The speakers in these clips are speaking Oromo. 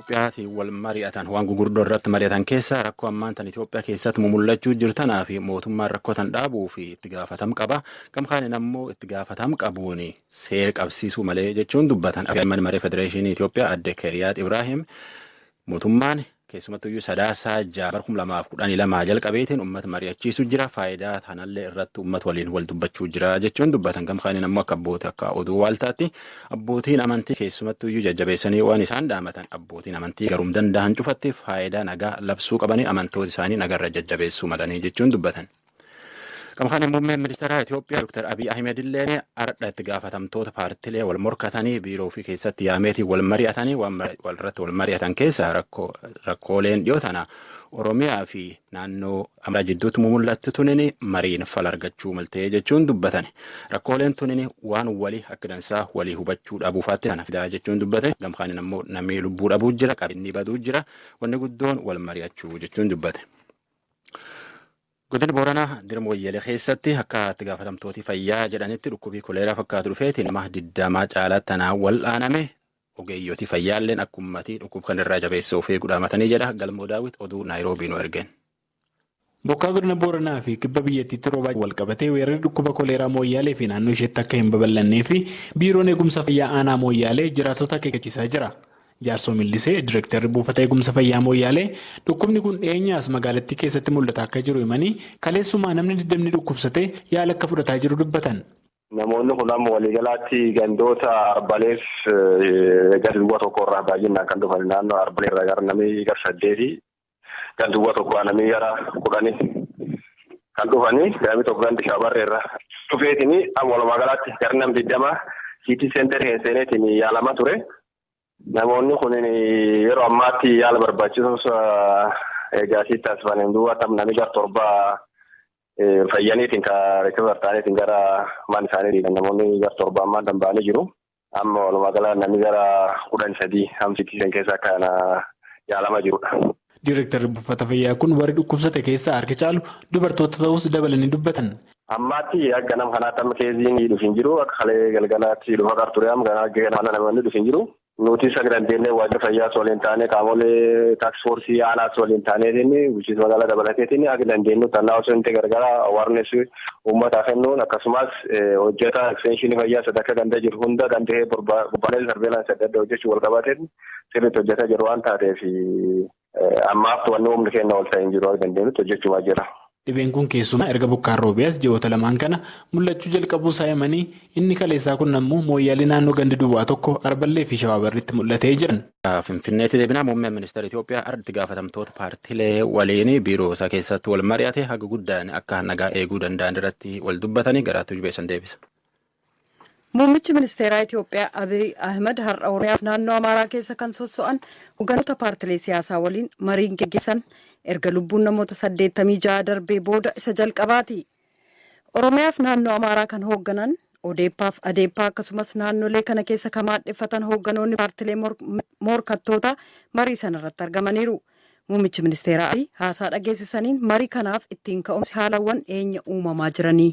Itoophiyaatiin wal mari'atan waan gugurdoo irratti mari'atan keessaa rakkoo ammaan tan Itoophiyaa keessatti mumullachuu jirtanaa fi mootummaan rakkoo tan dhaabuu fi itti gaafatam qaba. Gam kaaniin ammoo itti gaafatam qabuun seera qabsiisuu malee jechuun dubbatan. Afyaa'imman maree Federeeshinii Itoophiyaa adde Keriyaat Ibraahim mootummaan keessumattuu iyyuu sadaasaa ja'a bara kuma lamaaf kudhanii lamaa jalqabeetiin uummata mari'achiisuu jira faayidaa tanallee irratti uummata waliin wal dubbachuu jira jechuun dubbatan gam kaaniin ammoo akka abboota akka oduu waaltaatti Abbootiin amantii keessumattuu iyyuu jajjabeessanii waan isaan dhaamatan abbootiin amantii garuum danda'an cufatti faayidaa nagaa labsuu qabanii amantoota isaanii nagarra jajjabeessuu malanii jechuun dubbatan. Gama kanaan muummeen ministeeraa Itoophiyaa Dr. Abiy Ahmed illee ardha itti gaafatamtoota paartilee wal morkatanii biiroo ofii keessatti yaameetiin wal mari'atanii waan irratti wal mari'atan keessaa rakkooleen dhiyoo tana Oromiyaa fi naannoo Amaaraa jidduutti mumul'atti tunini mariin fala argachuu maltee jechuun dubbatan. Rakkooleen tunini waan wali akka dansaa walii hubachuu dhabuufaatti kana fidaa jechuun dubbate. Gamkaanin ammoo namni lubbuu dhabuu jira, qabeenyi baduu jira, wanni guddoon wal mari'achuu jechuun dubbate. Godina Booranaa dirma wayyalee keessatti akka itti gaafatamtooti fayyaa jedhanitti dhukkubii koleeraa fakkaatu dhufeeti nama digdamaa caalaa tanaan wal'aaname Ogeeyyoti fayyaalleen akka ummatii dhukkub kan irraa jabeessee of eegu dhaamatanii jedha Galmoo Daawit oduu Naayiroobii nu ergeen. Bokkaa godina Booranaa fi kibba biyyattiitti roobaa walqabatee weerarri dhukkuba koleeraa Mooyyaalee fi naannoo isheetti akka hin babal'annee fi Biiroon Eegumsa Fayyaa Aanaa Mooyyaalee jiraattota akeekkachiisaa jira. Jaarsoo Millisee Direktarri Buufata Eegumsa Fayyaa Mooyyaalee dhukkubni kun dhiyeenya as magaalattii keessatti mul'ataa akka jiru himanii kaleessumaa namni 20 dhukkubsatee yaala akka fudhataa jiru dubbatan. Namoonni kun amma waliigalaatti gandoota Arbaleef ganda duwwaa tokko irraa baay'inaan kan dhufan naannoo Arbalee irraa gara namii gara saddeeti ganda duwwaa tokko namii gara kudhani kan dhufani namii tokko ganda shaabarree irraa dhufeetini amma walumaa galaatti gara nam digdama siitii seenterii hin seeneetiin yaalamaa ture. Namoonni kun yeroo ammaatti yaala barbaachisus egaa asitti taasifaniin duuba tam namni gar torba fayyaniitiin ka rikivar ta'aniitiin gara maan isaanii dhiiban namoonni gar torba ammaan tan ba'anii jiru. Amma walumaa gala namni gara kudhan sadii hamsitii san keessa akka yaalamaa jirudha. Diirektarri buufata fayyaa kun warri dhukkubsate keessaa harki caalu dubartoota ta'uus dabalanii dubbatan. Ammaatti akka nam kanaatti amma keeziin dhufu hin jiru. Akka kalee galgalaatti dhufa qar ture amma ganaa ganaa kana namni dhufu hin jiru. Nutis akka dandeenyee waajjira fayyaas waliin taanee qaamolee taaks foorsii aanaas waliin taaneetiin bulchiinsa magaalaa dabalateetiin akka dandeenyutti annaa osoo hin ta'e gargaara awaarnes uummataa kennuun akkasumas hojjeta eksteenshinii fayyaa sadarkaa ganda jiru hunda danda'ee bobbaalee sarbeelaansi adda addaa hojjechuu wal qabateetiin sirriitti hojjetaa jiru waan taateef ammaaf wanni humni keenya ol ta'e hin jiru akka dandeenyutti hojjechumaa jira. Dhibeen kun keessumaa erga bokkaan roobee as ji'oota lamaan kana mul'achuu jalqabuu isaa himanii, inni kaleessaa kun ammoo Mooyyaalee naannoo ganda Duwwaa tokko, Arballee fi Shawaa Barriitti mul'ate jedhan. Finfinneetti deebinaa muummeen ministeera Itoophiyaa har'a itti gaafatamtoota paartilee waliin biiroo isaa keessatti wal mari'ate haga guddaan akka nagaa eeguu danda'an irratti wal dubbatanii garaatti jubeessan deebisa. Muummichi ministeeraa Itiyoophiyaa Abiy Ahimad har'a Oromiyaa fi naannoo Amaaraa keessa kan sosso'an hogganoota paartilee siyaasaa waliin mariin geggeessan erga lubbuun namoota 86 darbee booda isa jalqabaati. Oromiyaa fi naannoo Amaaraa kan hoogganan Odeeppaaf Adeeppaa akkasumas naannolee kana keessa kan maadheffatan hoogganoonni paartilee morkattootaa marii sana irratti argamaniiru. Muummichi ministeeraa Abiy haasaa dhageessisaniin marii kanaaf ittiin ka'umsi haalawwan dhiyeenya uumamaa jiranii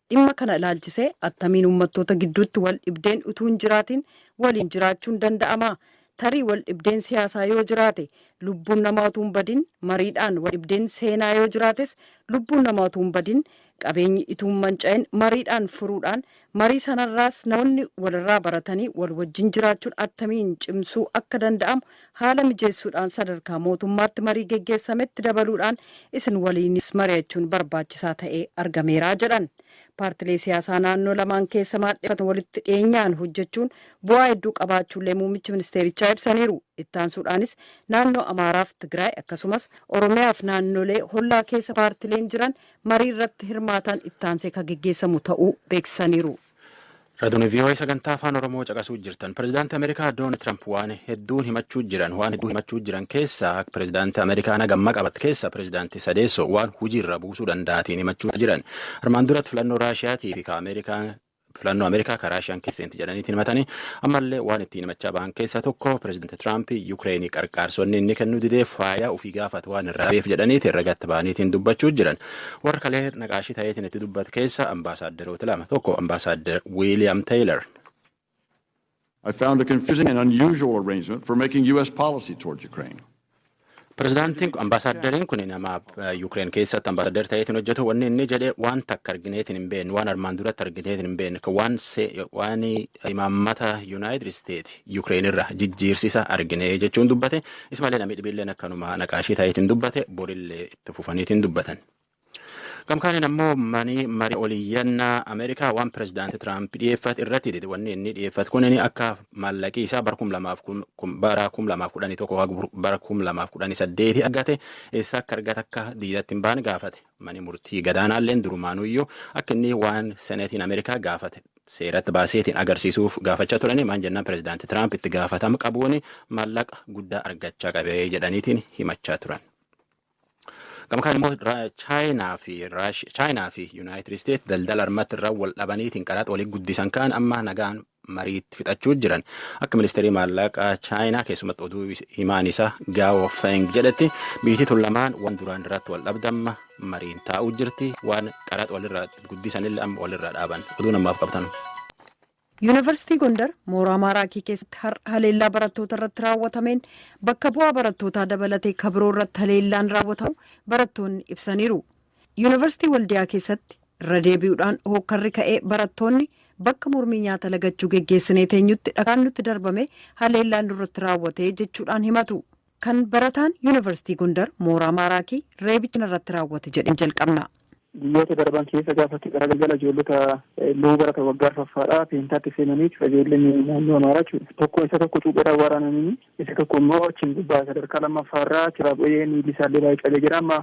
Dhimma kana ilaalchisee attamiin ummattoota gidduutti wal dhibdeen utuu hin jiraatiin waliin jiraachuun danda'ama? Tarii wal dhibdeen siyaasaa yoo jiraate, lubbuun namaa utuu hin badin mariidhaan, wal dhibdeen seenaa yoo jiraates lubbuun namaa utuu hin badin, qabeenyi ituu hin manca'in mariidhaan furuudhaan, marii sanarraas namoonni walirraa baratanii wal wajjin jiraachuun attamiin cimsuu akka danda'amu haala mijeessuudhaan sadarkaa mootummaatti marii geggeessametti dabaluudhaan isin waliinis mari'achuun barbaachisaa ta'ee argameera jedhan. Paartilee siyaasaa naannoo lamaan keessa maadheffatan walitti dhiyeenyaan hojjechuun bu'aa hedduu qabaachuullee muummichi ministeerichaa ibsaniiru. Ittaansuudhaanis naannoo Amaaraaf Tigraay akkasumas Oromiyaaf naannolee hollaa keessa paartileen jiran marii irratti hirmaataan ittaansee ka geggeessamu ta'uu beeksisaniiru. Raadiyoo VOA sagantaa afaan Oromoo caqasuu jirtan. Pireezidaantii Ameerikaa Doonaald Tiraamp waan hedduun himachuu jiran waan hedduun himachuu jiran keessaa akka pireezidaantii Ameerikaa na gamma qabat keessa pireezidaantii sadeessoo waan hojiirra buusuu danda'atiin himachuu jiran. Armaan duratti filannoo Raashiyaatii fi Ameerikaa filannoo Ameerikaa kan Raashiyaan keessatti jedhaniitiin himatanii ammallee waan ittiin himachaa ba'an keessaa tokko pireezidaantii Tiraamp Yukireenii qarqaarsonni inni kennuu didee faayaa ofii gaafatu waan irraa beef jedhaniiti irra gatta ba'aniitiin dubbachuu jiran. Warra kalee naqaashii ta'eetiin itti dubbate keessa ambaasaaddaroota lama tokko ambaasaaddar Wiiliyaam Teeylar. I found a confusing and unusual arrangement for making U.S. policy toward Ukraine. Pirezidaantiin ambaasaaddariin kun nama Yuukireen keessatti ambaasaaddar ta'eetiin hojjetu wanni inni jedhe waan takka argineetiin hin beekne waan armaan duratti argineetiin hin beekne kan waan se- waan imaammata Yuunaayitid Isteet Yuukireen irra jijjiirsisa argine jechuun dubbate ismallee namni dhibiilleen akkanuma naqaashii ta'eetiin dubbate borillee itti fufaniitiin dubbatan. Gamkaaniin ammoo manii marii oliyyannaa Ameerikaa waan pirezidaantii Tiraamp dhiyeeffate irratti dide wanni inni dhiyeeffate kun inni akka maallaqii isaa bara kum lamaaf kun kun- bara kum lamaaf kudhanii tokko haga bur- bara kum lamaaf kudhanii saddeeti argate eessa akka argate akka diidatti hin baane gaafate manii murtii gadaanaalleen durumaanuyyuu akka inni waan seneetiin Ameerikaa gaafate seeratti baaseetiin agarsiisuuf gaafachaa turanii maan jennaan pirezidaantii Tiraamp itti gaafatama qabuun maallaqa guddaa argachaa qabee jedhaniitiin himachaa turan. Gama kaan immoo Chaayinaa fi Chaayinaa fi Yuunaayitid Isteet daldala armatti irra wal dhabaniitiin qaraxa walii guddisan kaan amma nagaan mariitti fixachuu jiran akka ministeerii maallaqaa Chaayinaa keessumatti oduu himaan isaa Gaawo Feng jedhetti biitii tun lamaan waan duraan irratti wal dhabdamma mariin taa'uu jirti waan qaraxa walirraa guddisanillee amma walirraa dhaaban oduu namaaf qabtan. Yuunivarsiitii Gondar mooraa Maaraakii keessatti har'a haleellaa barattoota irratti raawwatameen bakka bu'aa barattootaa dabalatee ka biroo irratti haleellaan raawwatamu barattoonni ibsaniiru. Yuunivarsiitii Waldiyaa keessatti irra deebi'uudhaan hookkarri ka'ee barattoonni bakka mormii nyaata lagachuu geggeessinee teenyutti dhakaan nutti darbamee haleellaan nurratti raawwate jechuudhaan himatu. Kan barataan Yuunivarsiitii Gondar mooraa Maaraakii reebicha narratti raawwate jedheen jalqabna. Guyyoota darban keessa gaafa itti gara galgala ijoollota low barata waggaa arfaffaadhaa peentaatti seenanii jechuudha ijoolleen naannoo Amaaraa jechuudha. Tokko isa tokko cuupheedhaan waraananii isa tokko immoo achiin gubbaa sadarkaa lammaffaarraa achirraa bu'ee miilli isaallee baay'ee cabee jira amma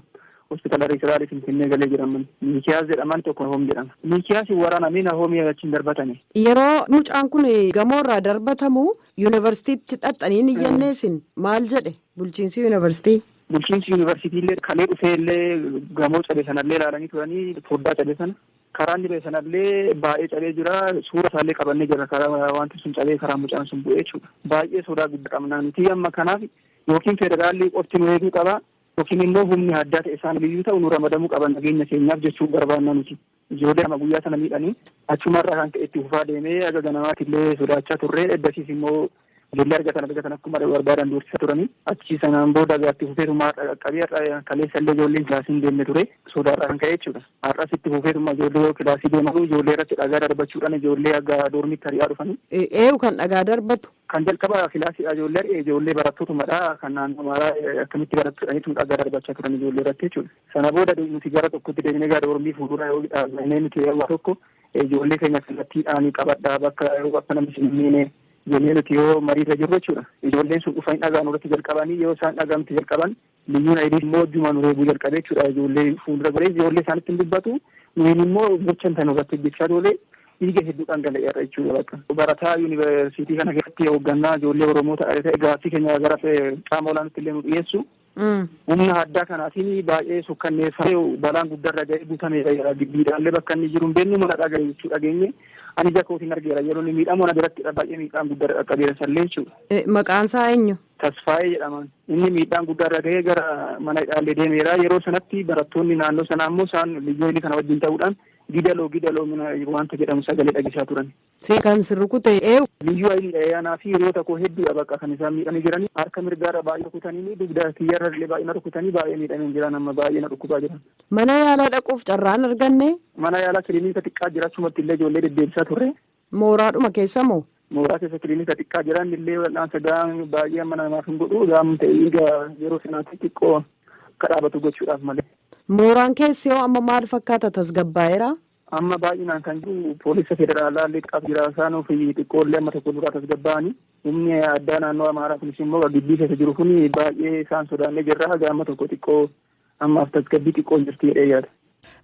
hospitaala riiferaalii Finfinnee galee jira amma Miikiyaas jedhaman tokko Nahoom jedhama. Miikiyaas waraanamee Nahoomii achiin darbatani. Yeroo mucaan kun gamoo irraa darbatamu Yuunivarsiitiitti dhaxxanii hin iyyannee isin maal jedhe bulchiinsi yuunivarsiitii? Bulchiinsi yuunivarsiitii illee kalee dhufee illee gamoo cabe sana illee ilaalanii turanii foddaa cabe sana karaa inni ba'e sana illee baay'ee cabee jira suura isaa illee qabannee jira karaa wanti sun cabee karaa mucaan sun bu'ee jechuudha baay'ee sodaa guddaa qabna nuti amma kanaaf yookiin federaalli qofti nu eeguu qaba yookiin immoo humni addaa ta'e isaan biyyuu ta'u nu ramadamuu qaba nageenya keenyaaf jechuun barbaanna nuti. Ijoollee lama guyyaa sana miidhani. Achuma irraa kan ka'e itti fufaa deeme. Haga ganamaatti illee sodaachaa turre. Eddasiis immoo ijoollee argatan argatan akkuma barbaadan doorsisaa turani. Achi sanaan booda egaa itti fufeetuma har'a qaqqabe. Har'a kaleessa illee ijoolleen kilaasii hin deemne ture. Sodaa irraa kan ka'e jechuudha. Har'as itti fufeetuma ijoollee yoo kilaasii deemanu ijoollee irratti dhagaa darbachuudhaan ijoollee haga doormiitti ari'aa dhufani. Eeyu kan dhagaa darbatu? Kan jalqabaa kilaasiidha ijoollee ari'e ijoollee barattootumadha. Kan naannoo Amaaraa akkamitti barattu jedhaniitu dhagaa darbachaa turan ijoollee irratti jechuudha. Sana booda nuti gara tokkotti deebinee gara doormii fuuldura yoo dhaabbannee nuti yeroo tokko ijoollee keenya kallattiidhaan qabadhaa bakka yeroo akka namni isin hin miine jennee nuti yoo mariirra jirru jechuudha. Ijoolleen sun dhufanii dhagaa nurratti jalqabanii yoo isaan dhagaa nutti jalqaban Liyyuun Hayilii immoo ijjumaa nu reebuu jalqabe jechuudha. Ijoollee fuuldura goree ijoollee isaanitti hin dubbatu. Nuyin immoo gocha inta nurratti hojjechaa toole dhiiga hedduu dhangala'eerra jechuudha bakka. Barataa yuunivarsiitii kana keessatti hooggannaa ijoollee Oromoo ta'e ta'e gaaffii keenya gara qaama olaanitti illee nu dhiyeessu. Humna addaa kanaatiin baay'ee sukkanneeffamee balaan guddaarra ga'ee guutameera jira. Giddiidhaallee bakka inni jiru hin beeknu mana dhagaa jechuu dhageenye. Ani ija kootiin argeera yeroo inni miidhamu ana biratti baay'ee miidhaan guddaarra qaqqabeera sallee jechuudha. Maqaan isaa eenyu? Tasfaayee jedhaman inni miidhaan guddaa irra gahee gara mana hidhaallee deemeera. Yeroo sanatti barattoonni naannoo sanaa immoo isaan liyyuu haylii kana wajjin ta'uudhaan gidaloo gidaloo mina waanta jedhamu sagalee dhageessaa turan. Si kan si rukute eenyu? Liyyuu hayliidha ee anaa fi hiriyoota koo hedduudha bakka kan isaan miidhanii jiranii. Harka mirgaarra baay'ee rukutaniini dugda kiyyarra illee baay'ee na rukutanii baay'ee miidhameen jiran amma baay'ee na dhukkubaa jiran. Mana yaalaa dhaquuf carraa hin arganne? Mana yaalaa kilinika xiqqaa jira achumatti illee ijoollee deddeebisaa turre. Mooraadhuma keessa moo? Mooraa keessa kilinika xiqqaa jira. Inni illee wal'aansa gahaa baay'ee amma namaaf hin godhu. Gahaan ta'e dhiiga yeroo sanaatti xiqqoo akka dhaabatu gochuudhaaf malee. Mooraan keessi hoo amma maal fakkaata? Tasgabbaa'eeraa? Amma baay'inaan kan jiru poolisa federaalaa illee xiqqaatu jira. Isaan ofii xiqqoo illee amma tokko duraa tasgabbaa'anii. Humni addaa naannoo Amaaraa kunis immoo gibbii keessa jiru kun baay'ee isaan sodaannee jirra. Haga amma tokko xiqqoo ammaaf tasgabbii xiqqoo jirti jedhee yaada.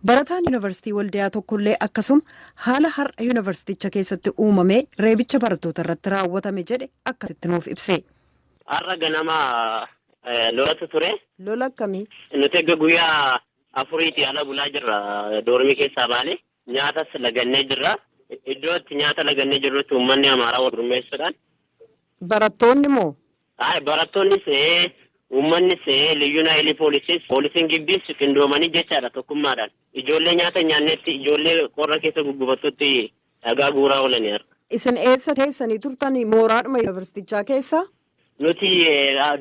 Barataan Yuunivarsiitii Waldiyaa tokkollee akkasuma haala har'a yuunivarsiiticha keessatti uumamee reebicha barattoota irratti raawwatame jedhe akkasitti nuuf ibse. Har'a ganama lolatu ture. Lola akkamii? Nuti erga guyyaa afuriitii ala bulaa jirra doormii keessaa baane. Nyaatas lagannee jirra. Iddoo itti nyaata lagannee jirrutti uummanni Amaaraa wal gurmeessuudhaan. Barattoonni moo? Ayi barattoonnis ta'ee uummannis ta'ee liyyuun hayilii poolisiis poolisiin gibbiis qindoomanii jechaadha tokkummaadhaan ijoollee nyaata hin nyaannetti ijoollee qorra keessa guggubattutti dhagaa guuraa oolani har'a. Isin eessa teessanii turtan mooraadhuma yunivarsitichaa keessa? Nuti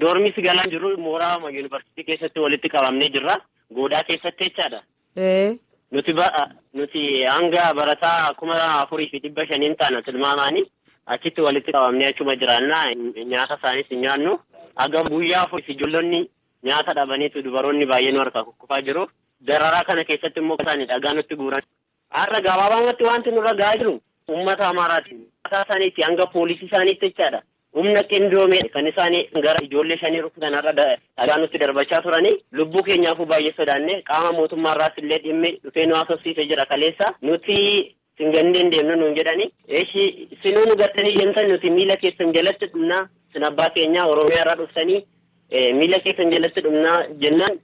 doormiis galaa hin jirru mooraama yunivarsitii keessatti walitti qabamnee jirra goodaa keessatti jechaadha. Ee. Nuti ba, nuti hanga barataa 4,500 hin taana tilmaamaani. Achitti walitti qabamnee achuma jiraanna. Nyaata isaaniis hin nyaannu. Haga guyyaa afuriif ijoollonni nyaata dhabaniitu dubaroonni baay'ee nu harkaa kukkufaa jiru. Dararaa kana keessatti immoo isaani dhagaa nutti guuran. Har'a gabaabaamatti waanti nurra gahaa jiru uummata Amaaraatiin. Mataa isaaniitii hanga poolisii isaaniitti jechaadha. Humna qindoomeen kan isaan gara ijoollee shanii rukutan har'a dhagaa nutti darbachaa turani. Lubbuu keenyaafuu baay'ee sodaanne. Qaama mootummaa irraas illee dhimmi dhufee nu haasofsiise jira kaleessa. Nuti sin gannee hin deemnu nuun jedhani. Eshi isinuu nu gattanii deemtan nuti miila keessan jalatti dhumna. Isin abbaa keenyaa Oromiyaa irraa dhuftanii miila keessan jalatti dhumna jennaan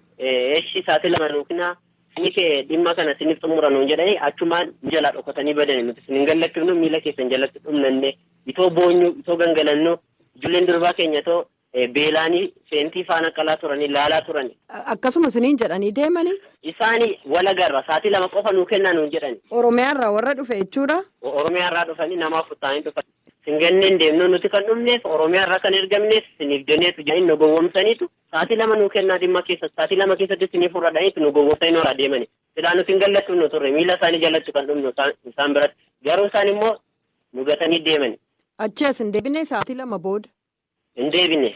eshi saatii lama nuu kennaa. Inni kee dhimma kana sinif xumura nuun jedhanii achumaan nu jalaa dhokatanii badani nuti sin hin gallakifnu miila keessan jalatti dhumnanne itoo boonyu itoo gangalannu ijulleen durbaa keenya itoo beelaani seentii faana qalaa turani laalaa turani. Akkasuma siniin jedhanii deemanii. Isaani wal agarra saatii lama qofa nuu kennaa nuun jedhani. Oromiyaa irraa warra dhufe jechuudha? Oromiyaa irraa dhufani nama afur ta'anii dhufani. Sin ganneen deemnu nuti kan dhumneef Oromiyaa irraa kan ergamneef siniif jeneetu jedhanii nu gowwomsaniitu Sa'atii lama nuu kennaa dhimma keessatti sa'atii lama keessatti isinii furra jedhaniitu nu gowwoomsanii nu harkaa deemani. Silaa nuti hin gallattu dhumnu turre. Miila isaanii jalatti kan dhumnu isaan biratti. Garuu isaan immoo nu gatanii deemani. Achii as hin deebinee sa'atii lama booda? Hin deebine.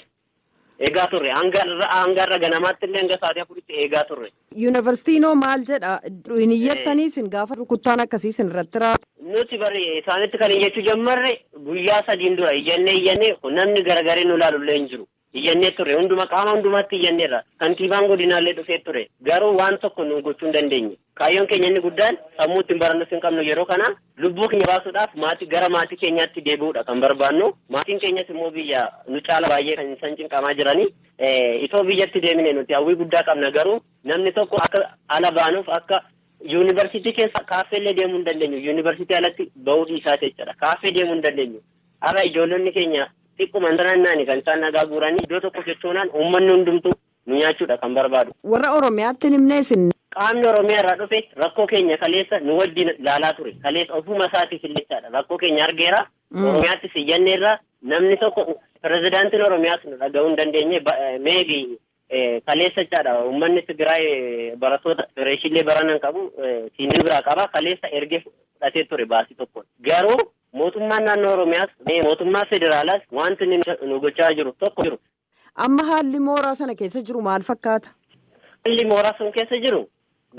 Eegaa turre. Hanga har'a hanga har'a ganamaatti illee hanga sa'atii afuritti eegaa turre. Yuunivarsiitiin hoo maal jedha? Hin iyyattanii isin gaafa rukuttaan akkasii isin irratti raawwatu? Nuti bari isaanitti kan iyyachuu jammarre guyyaa sadiin dura iyyannee iyyannee namni garagaree nu ilaalu illee hin jiru. Iyyannee turre. Hunduma qaama hundumaatti iyyanneerra. Kantiibaan godinaallee dhufee ture. Garuu waan tokko nuu gochuu hin dandeenye. Kaayyoon keenya inni guddaan sammuu ittiin barannus hin qabnu yeroo kana. Lubbuu keenya baasuudhaaf maatii gara maatii keenyaatti deebi'uudha kan barbaannu. Maatiin keenyas immoo biyya nu caala baay'ee kan isaan cinqamaa jirani. Itoo biyyatti deemine nuti hawwii guddaa qabna garuu namni tokko akka ala baanuuf akka Yuunivarsiitii keessa kaaffeellee deemuu hin dandeenyu. Yuunivarsiitii alatti ba'uu dhiisaati jechuudha. Kaaffee deemuu hin dandeenyu. Har'a ijoollonni keenya xiqquma naannaani kan isaan dhagaa guuranii iddoo tokko sochoonaan uummanni hundumtuu nu nyaachuudha kan barbaadu. Warra Oromiyaatti hin himnee isin? Qaamni Oromiyaa irraa dhufe rakkoo keenya kaleessa nu wajjin ilaalaa ture. Kaleessa ofuma isaatiif illee jechaadha rakkoo keenya argeera. Oromiyaattis iyyanneerra namni tokko pirezidaantiin Oromiyaas nu dhaga'uu hin dandeenye maybe Kaleessa jechaadha uummanni Tigraay barattoota fireeshiillee barana hin qabu siinii biraa qaba kaleessa ergee fudhatee ture baasii tokkoon. Garuu mootummaan naannoo Oromiyaas mootummaa federaalaas wanti inni nu gochaa jiru tokko jiru. Amma haalli mooraa sana keessa jiru maal fakkaata? Haalli mooraa sun keessa jiru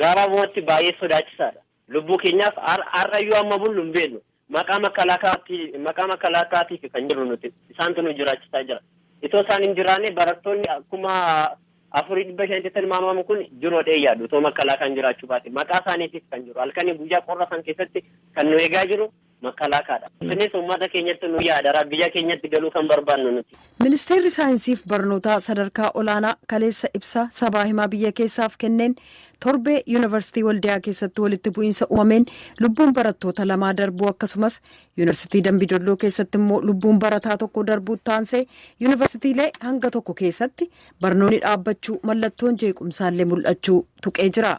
gabaabumatti baay'ee sodaachisaadha. Lubbuu keenyaaf har'ayyuu hamma bullu hin beeknu. Maqaa makkalaakaatiifi kan jirru nuti. Isaantu nu jiraachisaa jira. Itoo isaan hin jiraanne barattoonni kuma afurii dhibba shanitti tilmaamamu kun jiru jedhee hin yaadu. Itoo makkalaakaan jiraachuu baate. Maqaa isaaniitiif kan jiru. Halkanii guyyaa qorra san keessatti kan nu eegaa jiru Makalaakaa dha. Isinis ummata keenyatti nu yaadara, biyya keenyatti galuu kan barbaannu nuti. Ministeerri Saayinsiif Barnootaa Sadarkaa Olaanaa kaleessa ibsa sabaa himaa biyya keessaaf kenneen torbee Yuunivarsitii Waldiyaa keessatti walitti bu'iinsa uumameen lubbuun barattoota lamaa darbuu akkasumas Yuunivarsitii Dambi Dolloo keessatti immoo lubbuun barataa tokkoo darbuutti aansee Yuunivarsitiilee hanga tokko keessatti barnoonni dhaabbachuu mallattoon jeequmsaallee mul'achuu tuqee jira.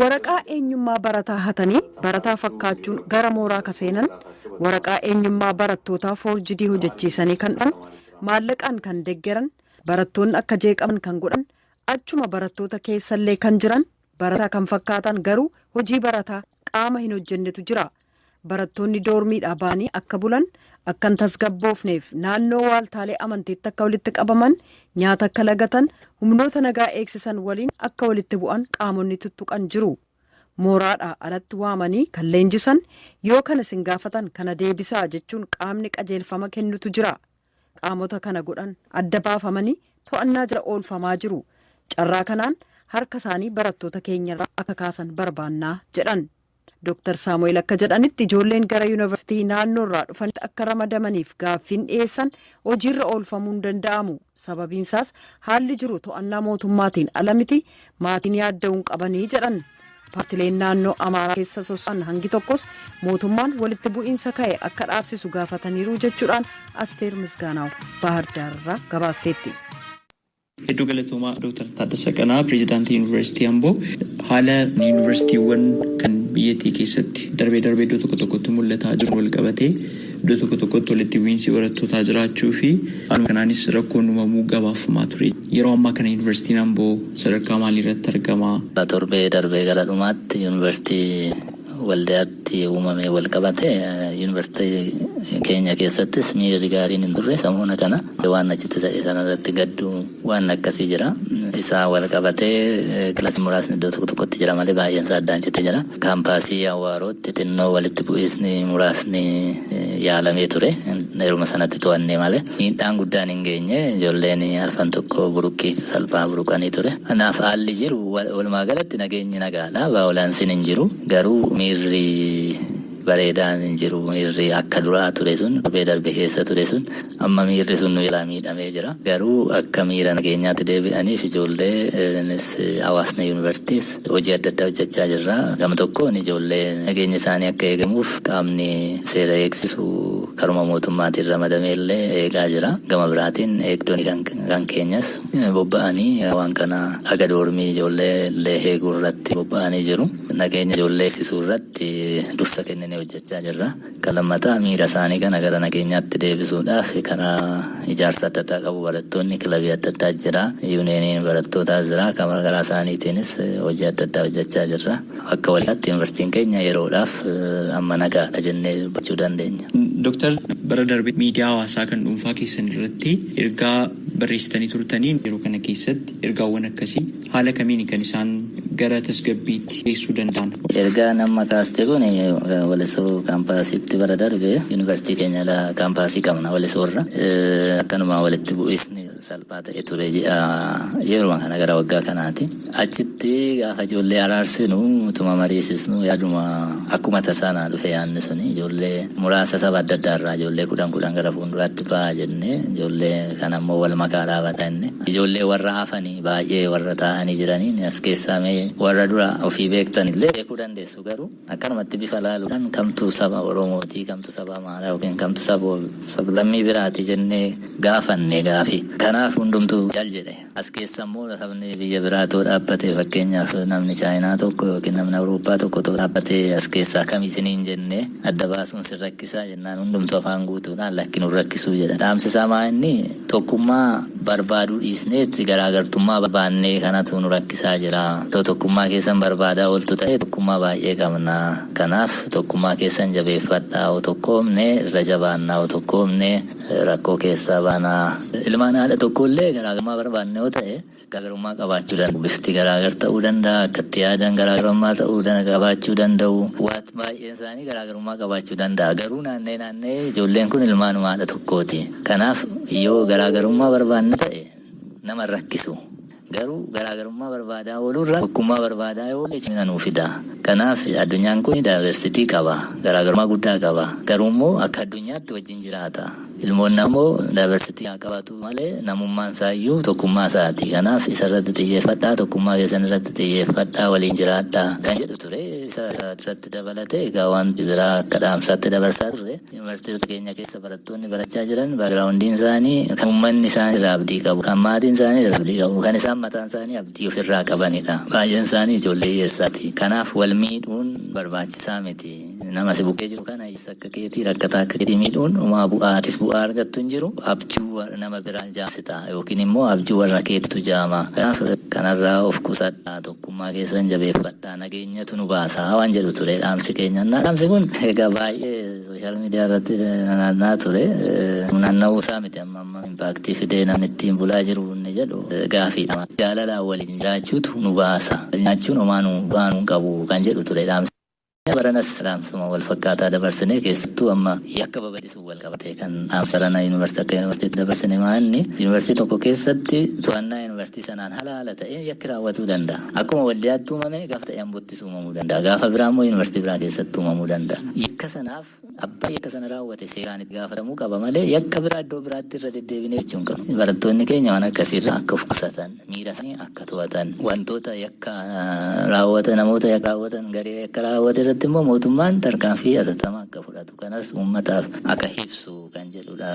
Waraqaa eenyummaa barataa hatanii barataa fakkaachuun gara mooraa ka seenan, waraqaa eenyummaa barattootaa foorjidii hojechiisanii kan dhufan, maallaqaan kan deggeran, barattoonni akka jeeqaman kan godhan, achuma barattoota keessallee kan jiran barataa kan fakkaatan garuu hojii barataa qaama hin hojjennetu jira. Barattoonni doormiidhaa ba'anii akka bulan, akka hin tasgabboofneef naannoo waaltaalee amantiitti akka walitti qabaman, nyaata akka lagatan, humnoota nagaa eegsisan waliin akka walitti bu'an qaamonni tuttuqan jiru. Mooraadhaa alatti waamanii kan leenjisan, yoo kana isin gaafatan kana deebisaa jechuun qaamni qajeelfama kennutu jira. qaamota kana godhan adda baafamanii to'annaa jala oolfamaa jiru. Carraa kanaan harka isaanii barattoota keenyarraa akka kaasan barbaanna, jedhan. Doktar Saamu'eel akka jedhanitti ijoolleen gara yunivarsiitii naannoorraa dhufanitti akka ramadamaniif gaaffiin dhiyeessan hojiirra oolfamuu hin danda'amu. Sababiinsaas haalli jiru to'annaa mootummaatiin ala miti, Maatiin yaadda'uu hin qabanii jedhan. Paartileen naannoo Amaaraa keessa soso'an hangi tokkos mootummaan walitti bu'iinsa ka'e akka dhaabsisu gaafataniiru jechuudhaan Asteer Misgaanaaw Baahirdaar irraa gabaasteetti. Hedduu galatoomaa Dooktar Taaddasaa Qana'aa Pireezidaantii Yuunivarsiitii Amboo haala yuunivarsiitiiwwan kan biyyattii keessatti darbee darbee iddoo tokko tokkotti mul'ataa jiru walqabatee Iddoo tokko tokkotti walitti bu'iinsi barattootaa jiraachuu fi haaluma kanaanis rakkoon uumamuu gabaafamaa ture. Yeroo ammaa kana Yuunivarsiitiin Amboo sadarkaa maaliirratti argama? Torbee darbe gara dhumaatti Yuunivarsiitii Waldiyaatti uumameen walqabatee Yuunivarsiitii keenya keessattis miirri gaariin hin turre. Samoona kana waan achitti ta'e sanarratti gadduu. Waan akkasii jira. Isaa wal qabatee kilasiin muraasni iddoo tokko tokkotti jira malee baay'een isaa addaan cite jira. Kaampaasii Awwaarootti xinnoo walitti bu'iisni muraasni yaalamee ture. Yeruma sanatti to'annee malee miidhaan guddaan hin geenye. Ijoolleen arfan tokko buruqqii salphaa buruqanii ture. Kanaaf haalli jiru walumaa galatti nageenyi nagaadha. Vaayolansiin hin jiru. Garuu miirri bareedaan hin jiru. Miirri akka duraa ture sun torbee darbe keessa ture sun Amma miirri sun nu jalaa miidhamee jira. Garuu akka miira nageenyaatti deebi'aniif ijoollee nis hawaasni yuunivarsiitiis hojii adda addaa hojjechaa jirra. Gama tokkoon ijoollee nageenyi isaanii akka eegamuuf qaamni seera eegsisu karuma mootummaatiin ramadamee illee eegaa jira. Gama biraatiin eegdonni kan keenyas bobba'anii waan kana haga doormii ijoollee illee eeguu irratti bobba'anii jiru. Nageenya ijoollee eegsisuu irratti dursa kenninee hojjechaa jirra. Kan lammataa miira isaanii kana gara nageenyaatti deebisuudhaaf karaa ijaarsa adda addaa qabu. Barattoonni kilabii adda addaa jira. Yuuniyeeniin barattootaas jira. Kan garaa isaaniitiinis hojii adda addaa hojjechaa jirra. Akka waliigaalaatti Yuunivarsiitiin keenya yeroodhaaf amma nagaadha jennee dubbachuu dandeenya. Doktar, bara darbe miidiyaa hawaasaa kan dhuunfaa keessan irratti ergaa barreessitanii turtanii yeroo kana keessatti ergaawwan akkasii Haala kamiini kan isaan gara tasgabbiitti geessuu danda'an? Ergaan amma kaaste kun Walisoo kaampaasiitti bara darbe yunivarsiitii keenya ala kaampaasii qabna Walisoorra. Akkanuma walitti bu'iisni salphaa ta'e ture ji'a yeruma kana gara waggaa kanaati. Achitti gaafa ijoollee araarsinu utuma mariisisnu yaaduma akkuma tasaa naa dhufe yaadni suni ijoollee muraasa saba adda addaa irraa ijoollee kudhan kudhan gara fuunduraatti ba'aa jennee ijoollee kanammoo wal makaa dhaabata inni ijoollee warra hafanii baay'ee warra taa'anii jiraniin as keessaa mee warra dura ofii beektan illee beekuu dandeessu garuu akkanumatti bifa laaluudhaan kamtu saba Oromootii kamtu saba Amaaraa yookiin kamtu saba sablammii biraati jennee gaafanne gaafi. Kanaaf hundumtu cal jedhe. As keessa immoo sabni biyya biraa too dhaabbate fakkeenyaaf namni Chaayinaa tokko yookiin namni Awurooppaa tokko too dhaabbate as keessaa kami isiniin jennee adda baasuun sin rakkisaa Kennaan hundumtuu afaan guutuudhaan lakki nun rakkisuu jedha. Dhaamsi isaa maa inni? Tokkummaa barbaaduu dhiisneet garaagartummaa barbaannee kanatu nu rakkisaa jira. Otoo tokkummaa keessan barbaadaa ooltu ta'ee tokkummaa baay'ee qabna. Kanaaf tokkummaa keessan jabeeffadhaa yoo tokkoomne irra jabaanna yoo tokkoomne rakkoo keessaa baana. Ilmaan haadha tokkoo illee garaagarummaa barbaanna yoo ta'e. Garaagarummaa qabaachuu danda'u. Bifti garaagar ta'uu danda'a, akka itti yaadan garaagarummaa ta'uu dana qabaachuu danda'u. Waat baay'een isaanii garaagarummaa qabaachuu danda'a. Garuu naanna'ee naanna'ee ijoolleen kun ilmaanuma haadha tokkooti. Kanaaf yoo garaagarummaa barbaanna ta'e nama hin rakkisu. Garuu garaagarummaa barbaadaa ooluurra tokkummaa barbaadaa yoo oolle cimina nuu fida. Kanaaf addunyaan kun diversity qaba. Garaagarummaa guddaa qaba. Garuummoo akka addunyaatti wajjin jiraata. Ilmoon ammoo diversity haa qabaatu malee namummaan isaa iyyuu tokkummaa isaati. Kanaaf isa irratti xiyyeeffadhaa, tokkummaa keessan irratti xiyyeeffadhaa, waliin jiraadhaa kan jedhu ture. Isa irratti dabalatee egaa wanti biraa akka dhaamsaatti dabarsaa turre yuunivarsiitota keenya keessa barattoonni barachaa jiran background'n isaanii kan uummanni isaan irraa abdii qabu, kan maatiin isaanii irraa abdii qabu, kan isaan mataan isaanii abdii ofirraa qabanidha. Baay'een isaanii ijoollee hiyyeessaati. Kanaaf wal miidhuun barbaachisaa miti. Nama si bukkee jiru kana Jaarsa akka keetii rakkataa akka keetii miidhuun homaa bu'aa atis bu'aa argattu hin jiru. Abjuu nama biraa jaamsita yookiin immoo abjuu warra keetitu jaama. Kanaaf kanarraa of qusadhaa tokkummaa keessan jabeeffadhaa nageenyatu nu baasa waan jedhu ture dhaamsi keenya. Dhaamsi kun egaa baay'ee sooshaal miidiyaa irratti nanaanna'aa ture. Naanna'uu isaa miti amma amma impaaktii fidee namni ittiin bulaa jiru inni jedhu gaafiidha. Jaalalaan waliin jiraachuutu nu baasa. Nyaachuun homaa nu bu'aa nu hin qabu kan jedhu ture dhaamsi. Jireenya baranas dhaamsuma walfakkaataa dabarsine keessattuu amma yakka babal'isuun walqabatee kan dhaamsa ranaa Yuunivarsiitii akka Yuunivarsiitiitti dabarsine maa'anni Yuunivarsiitii tokko keessatti to'annaa Yuunivarsiitii sanaan hala haala ta'een yakki raawwatuu danda'a. Akkuma Waldiyaatti uumame gaafa ta'e Ambottis uumamuu danda'a. Gaafa biraa immoo Yuunivarsiitii biraa keessatti uumamuu danda'a. Yakka sanaaf Abbaan yakka sana raawwate seeraan itti gaafatamuu qaba malee yakka biraa iddoo biraatti irra deddeebinee hojjechuu hin qabnu. Barattoonni keenya waan akkasii irraa akka of qusatan, miira isaanii akka to'atan, wantoota yakka raawwatan, namoota yakka raawwatan, garee yakka raawwate irratti immoo mootummaan tarkaanfii hatattamaa akka fudhatu kanas uummataaf akka ibsu kan jedhudha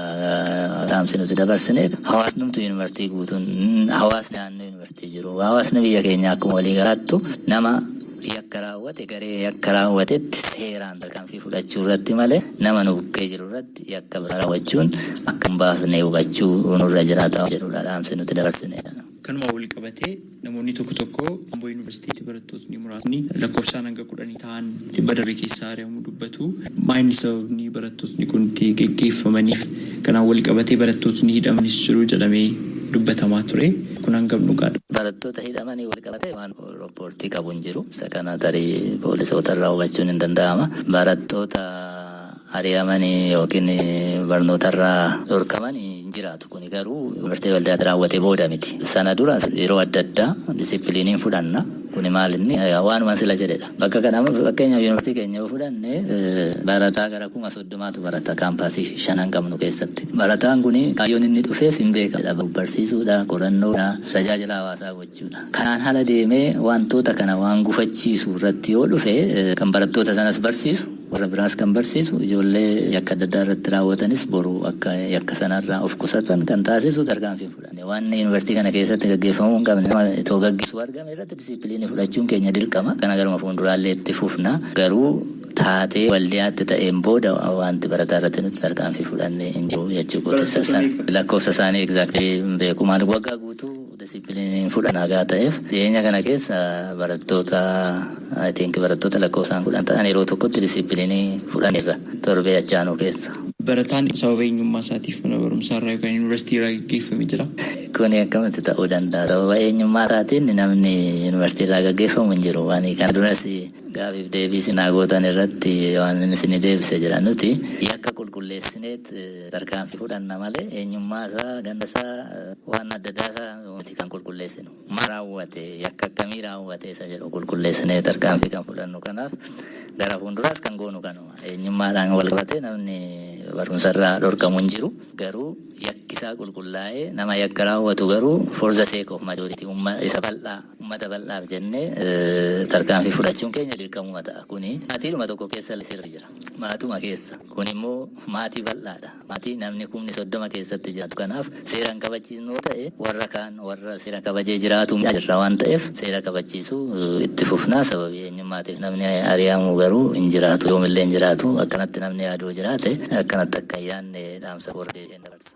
dhaamsi nuti dabarsine. Hawaasnumtu yuunivarsiitii guutuun hawaasni naannoo yuunivarsiitii jiru hawaasni biyya keenyaa akkuma walii galaattu nama yakka raawwate garee yakka raawwatetti seeraan tarkaanfii fudhachuu irratti malee nama nu bukkee jiru irratti yakka biraa raawwachuun akka hin baafne hubachuu nurra jiraata jedhudha dhaamsi nuti dabarsine. Kanumaan walqabatee namoonni tokko tokko Amboo Yuunivarsiitiitti barattootni muraasni lakkoofsaan hanga kudhanii tahan tibba darbe keessaa ari'amuu dubbatu. Maa inni sababni barattootni kun itti geggeeffamaniif? Kanaan walqabatee barattootni hidhamanis jiru jedhamee dubbatamaa ture. Kun hangam dhugaadha? Barattoota hidhamaniin walqabatee waan Rooppoortii qabu hin jiru. Isa kana tarii poolisoota irraa hubachuun hin danda'ama. Barattoota ari'aman yookiin barnoota irraa dhorkaman hin jiraatu. Kuni garuu bartee waldaatti raawwate booda miti. Sana dura yeroo adda addaa disipiliiniin fudhanna. Kuni maal inni waanuma sila jedhedha. Bakka kana amma fakkeenyaaf yuunivarsiitii keenya yoo fudhanne barataa gara kuma soddomaatu barata kaampaasii shanan qabnu keessatti. Barataan kuni kaayyoon inni dhufeef hin beekamu. Barsiisuudha, qorannoodha, tajaajila hawaasaa gochuudha. Kanaan ala deemee waantoota kana waan gufachiisu irratti yoo dhufe kan barattoota sanas barsiisu, warra biraas kan barsiisu, ijoollee yakka adda addaa irratti raawwatanis boru akka yakka sana irraa of qusatan kan taasisu tarkaanfii hin fudhanne. Waan Yuunivarsiitii kana keessatti gaggeeffamuu hin qabne nama itoo gaggeessu argame irratti disiipiliinii fudhachuun keenya dirqama. Kana garuma fuunduraallee itti fufna. Garuu taatee Waldiyaatti ta'een booda waanti barataa irratti nuti tarkaanfii fudhanne hin jiru jechuu kooti. Lakkoofsa isaanii exactly hin beeku. Maaliif waggaa guutuu. Disippiliiniin fudha nagaa ta'eef dhiyeenya kana keessa barattoota I think barattoota lakkoofsaan kudhan ta'an yeroo tokkotti disippiliinii fudhanirra torbee achi aanu keessa. Barataan sababa eenyummaa isaatiif mana barumsaa irraa yookaan yuunivarsiitii irraa gaggeeffame jira. Kuni akkamitti ta'uu danda'a? Sababa eenyummaa isaatiin namni yuunivarsiitii irraa gaggeeffamu hin jiru. Waan kana duras gaafiif deebii sinaa gootan irratti waan isin deebise jira. Nuti yakka qulqulleessineet tarkaanfii fudhanna malee eenyummaa isaa, ganda isaa, waan adda addaa isaa miti kan qulqulleessinu. Maal raawwate, yakka akkamii raawwate isa jedhu qulqulleessinee tarkaanfii kan fudhannu. Kanaaf gara fuulduraas kan goonu kanuma. Eenyummaadhaan wal qabatee namni barumsa irraa dhorkamu hin jiru. Garuu yakki isaa qulqullaa'ee nama yakka raawwatu garuu for the sake of majority umma isa bal'aa ummata bal'aaf jennee eh, tarkaanfii fudhachuun keenya dirqamuma ta'a. Kuni maatiidhuma tokko keessa illee sirri jira. Maatuma keessa. Kun immoo maatii bal'aadha. Maatii namni kumni 30 keessatti jiraatu kanaaf seera hin kabachiisnu yoo ta'e warra kaan warra seera kabajee jiraatu miidhaa jirra waan ta'eef seera kabachiisuu itti fufna. Sababii eenyummaatiif namni ari'amu garuu hin jiraatu. Yoomillee hin jiraatu. Akkanatti namni yaadu yoo jiraate akkanatti akka hin yaadne dhaamsa koo irra deebi'een dabarsa.